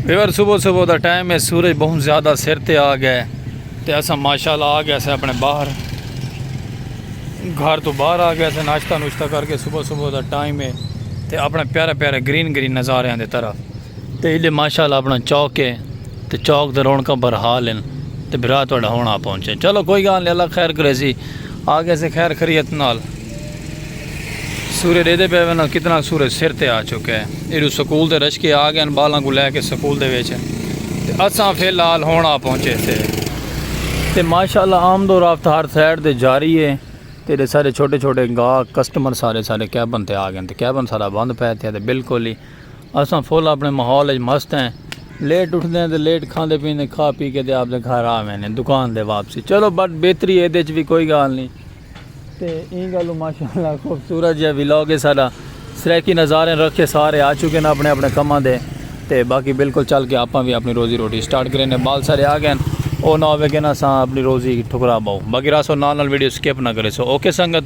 Viewer صبح صبح دا ٹائم ہے سورج بہت زیادہ سر تے آ گیا ہے تے اسا ماشاءاللہ آ گیا سے اپنے باہر گھر تو باہر آ گیا سے ناشتہ نوشتہ کر کے صبح صبح دا ٹائم ہے تے اپنے پیارے پیارے گرین گرین نظاریاں دے طرف تے ایڈے ماشاء اللہ اپنا چوک ہے تے چوک تے رونکاں بھر حال ہیں تے بھرا تہاڈا ہن آ پہنچے چلو کوئی گال نہیں اللہ خیر کرے سی آ گئے سے خیر خریت نال سورج ڈے دے پے وینا کتنا سورج سر تے آ چکا ہے ایڈو سکول دے رشکے آ گئے بالاں کو لے کے سکول دے وچ تے اساں فی الحال ہن آ پہنچے سے تے ماشاء اللہ آمد و رفت ہر سائڈ تے جاری ہے تے سارے چھوٹے چھوٹے گاہ کسٹمر سارے سارے کیبن تے آ گئے تے کیبن سارا بند پے تے بالکل ہی اساں فل اپݨے ماحول اچ مست ہیں۔ لیٹ اٹھدے ہیں تے لیٹ کھاندے پیندے کھا پی کے تے آپدے گھر آ ویندے دکان دے واپسی چلو بٹ بہتری ہے ایدے چ وی کوئی گالھ نی تے ایں گالوں ماشاءاللہ خوبصورت جیہا ولاگ ہے ساڈا سرائیکی نظاریں رکھے سارے آ چکے ن اپݨے اپݨے کماں دے تے باقی بالکل چل کے آپاں وی اپݨی روزی روٹی سٹارٹ کریندے بال سارے آ گئن او نہ ہووے کے نہ اساں اپݨی روزی ٹھکرا بائوں باقی راسو نال نال ویڈیو سکپ نہ کریسو اوکے سنگت۔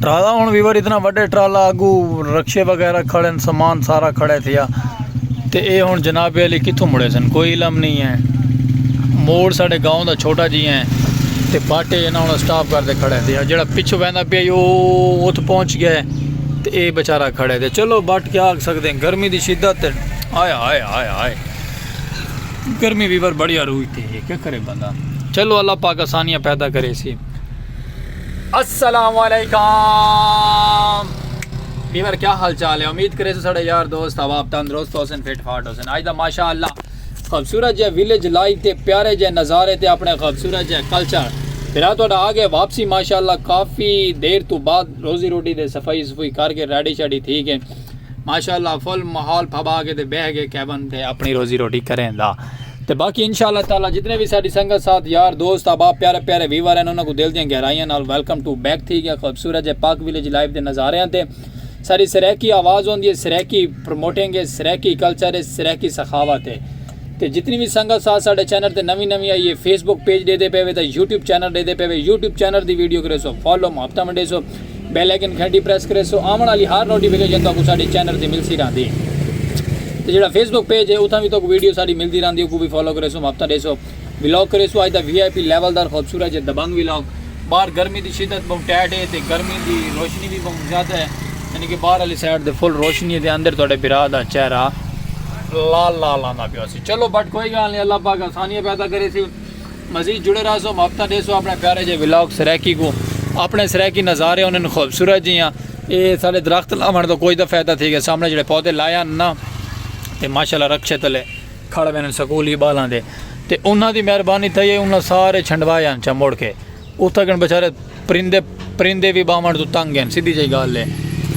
ٹرالا ہوں ویور اتنا وڈے ٹرالا اگو رکشے وغیرہ کھڑے سامان سارا کھڑے تھیا تے اے ہوں جناب علی کتوں مڑے سن کوئی علم نہیں ہے موڑ ساڑے گاؤں دا چھوٹا جی ہیں تے باٹے انہاں انہاں سٹاپ کر دے کھڑے تھیا جڑا پچھو ویندہ پیا یو ات پہنچ گئے تے اے بچارہ کھڑے تھے چلو بٹ کیا آگ سکتے ہیں گرمی دی شدت آیا آیا آیا آیا گرمی بھی بر بڑی عروج تے ہے کیا کرے بندہ چلو اللہ پاک آسانیاں پیدا کرے سی السلام علیکم بیور کیا حال چال ہے امید کرے سے سڑے یار دوست اب آپ تندرست ہو سن فٹ فاٹ ہو سن آج دا ماشاء اللہ خوبصورت جے ویلیج لائف تے پیارے جے نظارے تے اپنے خوبصورت جے کلچر پھر آ تھوڑا آگے واپسی ماشاء اللہ کافی دیر تو بعد روزی روٹی دے صفائی صفائی کر کے ریڈی شیڈی تھی گئے ماشاء اللہ فل ماحول پھبا کے تے بہ کے کیبن تے اپنی روزی روٹی کریں دا تے باقی انشاءاللہ تعالی جتنے بھی ساری سنگت ساتھ یار دوست احباب پیارے پیارے ویور ہیں انہاں کو دل دیاں گہرائیاں نال ویلکم ٹو بیک تھی گیا خوبصورت جے پاک ویلیج لائیو دے نظاریاں تے ساری سریکی آواز ہوندی ہے سریکی پروموٹنگ ہے سریکی کلچر ہے سریکی سخاوت ہے تے جتنی بھی سنگت ساتھ ساڈے چینل تے نوی نوی آئی ہے فیس بک پیج دے دے پے وے تے یوٹیوب چینل دے دے پے وے یوٹیوب چینل دی ویڈیو کرے سو فالو محبتہ منڈے سو بیل آئیکن گھنٹی پریس کرے سو آون والی ہر نوٹیفیکیشن تہاکوں ساڈے چینل تے ملسی رہندی تے جیڑا فیس بک پیج ہے اتھاں وی تہاکوں ویڈیو ساڈی ملدی رہندی اوکوں وی فالو کرے سو محبتاں ڈیسو ولاگ کرے سو اج دا وی آئی پی لیول دار خوبصورت جے دبنگ ولاگ باہر گرمی دی شدت بہوں ٹیٹ ہے تے گرمی دی روشنی وی بہوں زیادہ ہے یعنی کہ باہر والی سائیڈ تے فل روشنی ہے تے اندر تہاڈے بھرا دا چہرہ لال لال آندا پیو سی چلو بٹ کوئی گال نہیں اللہ پاک آسانیاں پیدا کریسی۔ مزید جڑے رہسو مابتا ڈیسو اپنے پیارے جے ولاگ سرائیکی کو اپنے سرائیکی نظارے انہن خوبصورت جی ہیں اے سالے درخت لاوان تو کوئی دا فیدہ تھی گئے سامنے جڑے پودے لائے ہیں نا تے ماشاءاللہ رکشے تلے کھڑ بینن سکولی بالاں دے تے انہاں دی مہربانی تھئی ہے انہاں سارے چھنڈوائے ہیں چموڑ کے اتھا گن بچارے پرندے پرندے بھی باوان تو تنگ ہیں سیدھی جائی گال لے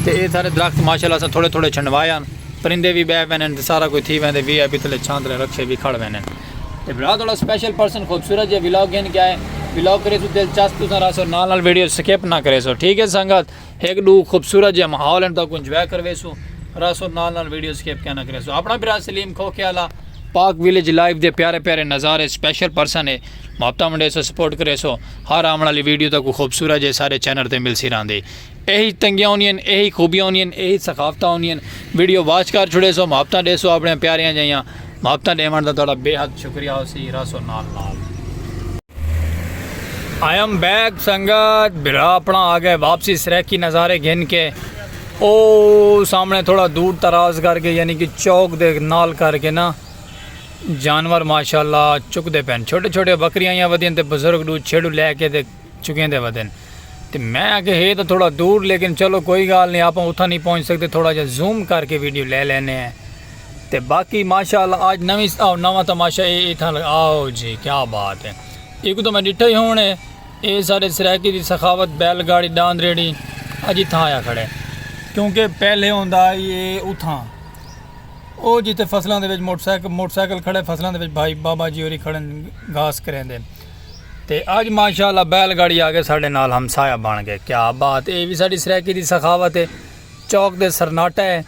تے اے سارے درخت ماشاءاللہ سا تھوڑے تھوڑے چھنڈوائے ہیں پرندے بھی بے بینن تے سارا کوئی تھی بیندے وی آئی پی تلے چھاندرے رکشے بھی کھڑ بینن ابرار تہاڈا سپیشل پرسن خوبصورت جیہا ولاگ گھن کے آئے ولاگ کریسوں دلچسپ تساں رہسو نال نال ویڈیو سکپ نہ کریسو ٹھیک ہے سنگت ہک ڈو خوبصورت جیہا ماحول ہن تاکوں انجوائے کرویسوں رہسو نال نال ویڈیو سکپ کیا نہ کریسو اپنا برا سلیم کھوکھے والا پاک ویلیج لائف دے پیارے پیارے نظارے سپیشل پرسن ہے محبتاں ونڈیسو سپورٹ کریسو ہر آون والی ویڈیو تاکوں خوبصورت جیہے سارے چینل تے ملسی رہندی ایہی تنگیاں ہونیاں ہن ایہی خوبیاں ہونیاں ہن ایہی ثقافتاں ہونیاں ہن ویڈیو واچ کر چھڑے سو محبتاں ڈیسو اپنیاں پیاریاں جیاں محبتاں ڈیون دا تہاڈا بے حد شکریہ ہوسی رہسو نال نال۔ آئی ایم بیک سنگت بھرا اپنا آ گئے واپسی سریکی نظارے گھن کے او سامنے تھوڑا دور تراز کر کے یعنی کہ چوک دے نال کر کے نا جانور ماشاءاللہ چک دے پین چھوٹے چھوٹے بکریاں یا ودیاں تے بزرگ دو چھڑو لے کے دے چکیندے ودن تے میں آکھیا ہے تاں تھوڑا دور لیکن چلو کوئی گال نی آپاں اتھاں نی پہنچ سکدے تھوڑا جا زوم کر کے ویڈیو لے لینے ہیں تے باقی ماشاءاللہ آج نویں آو نواں تماشا اے اتھاں آو جی کیا بات ہے ایک تو میں ڈٹھا ہی ہون ہے اے سارے سرائیکی دی سخاوت بیل گاڑی ڈاند ریڑی اج اتھاں آیا کھڑے کیونکہ پہلے ہوندا آئی اے اتھاں او جی تے فصلاں دے وچ موٹر سائیکل موٹر سائیکل کھڑے فصلاں دے وچ بھائی بابا جی ہوری کھڑن گھاس کریں دے تے اج ماشاء اللہ بیل گاڑی آ کے ساڈے نال ہمسایہ بن گئے کیا بات اے وی ساڈی سرائیکی دی سخاوت اے چوک تے سرناٹا اے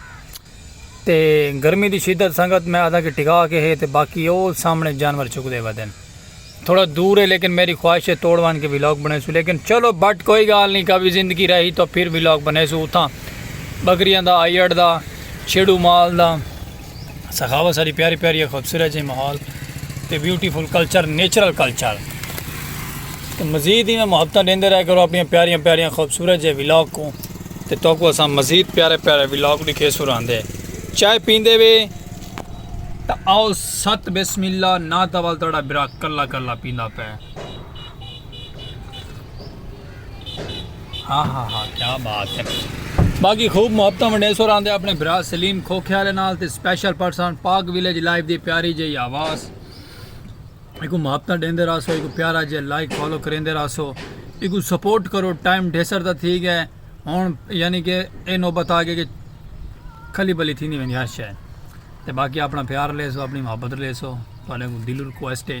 تے گرمی دی شدت سنگت میں آدھا کہ ٹکا کے ہے تے باقی او سامنے جانور چکدے ودن تھوڑا دور اے لیکن میری خواہش اے توڑ ون کے ولاگ بنیسو لیکن چلو بٹ کوئی گال نہیں کبھی زندگی رہی تو پھر ولاگ بنیسو اتھاں بکریاں دا آئیڑ دا چھڑو مال دا سخاوت ساری پیاری پیاری ہے خوبصورت جی ماحول تے بیوٹیفل کلچر نیچرل کلچر تے مزید ہی میں محبتاں دیندے رہے کرو اپنی پیاریاں پیاریاں خوبصورت جے ولاگ کو تے تو کو اساں مزید پیارے پیارے ولاگ دکھے سراندے چائے پیندے وے تا آؤ ست بسم اللہ نا تول تڑا برا کلا کلا پیندا پے ہاں ہاں ہاں کیا بات ہے باقی خوب محبت ونڈے سو راندے اپنے برا سلیم کھوکھے والے نال تے special person Pak village life دی پیاری جی آواز ایکو محبت دیندے راسو ایکو پیارا جی لائک فالو کریندے راسو ایکو سپورٹ کرو ٹائم ڈھیسر دا تھی گئے ہن یعنی کہ اے نوبت آ گئے کہ کھلی بلی تھی نہیں ویندی ہر شے تے باقی اپنا پیار لے سو اپنی محبت لے سو تواڈے کو دل ریکویسٹ ہے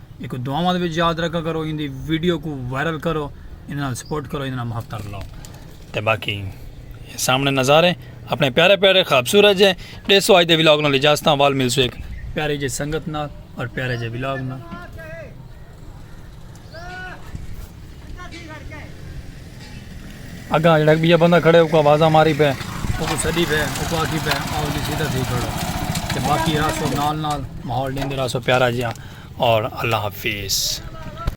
ایکوں دعاواں دے وچ یاد رکھا کرو ایندی ویڈیو کو وائرل کرو ایندے نال سپورٹ کرو ایندے نال محبت کر لو تے باقی سامنے نظارے اپنے پیارے پیارے خوبصورت جے ڈے سو آج دے ولاگ نال اجازت ہاں وال ملسو ایک پیارے جے سنگت نال اور پیارے جے ولاگ نال اگاں جڑا بیا بندہ کھڑے او کو آوازاں ماری پے او کو سڈی پے او کو آکھی پے او جی سیدھا تھی کھڑو تے باقی راسو نال نال ماحول دین دے راسو پیارا جیاں اور اللہ حافظ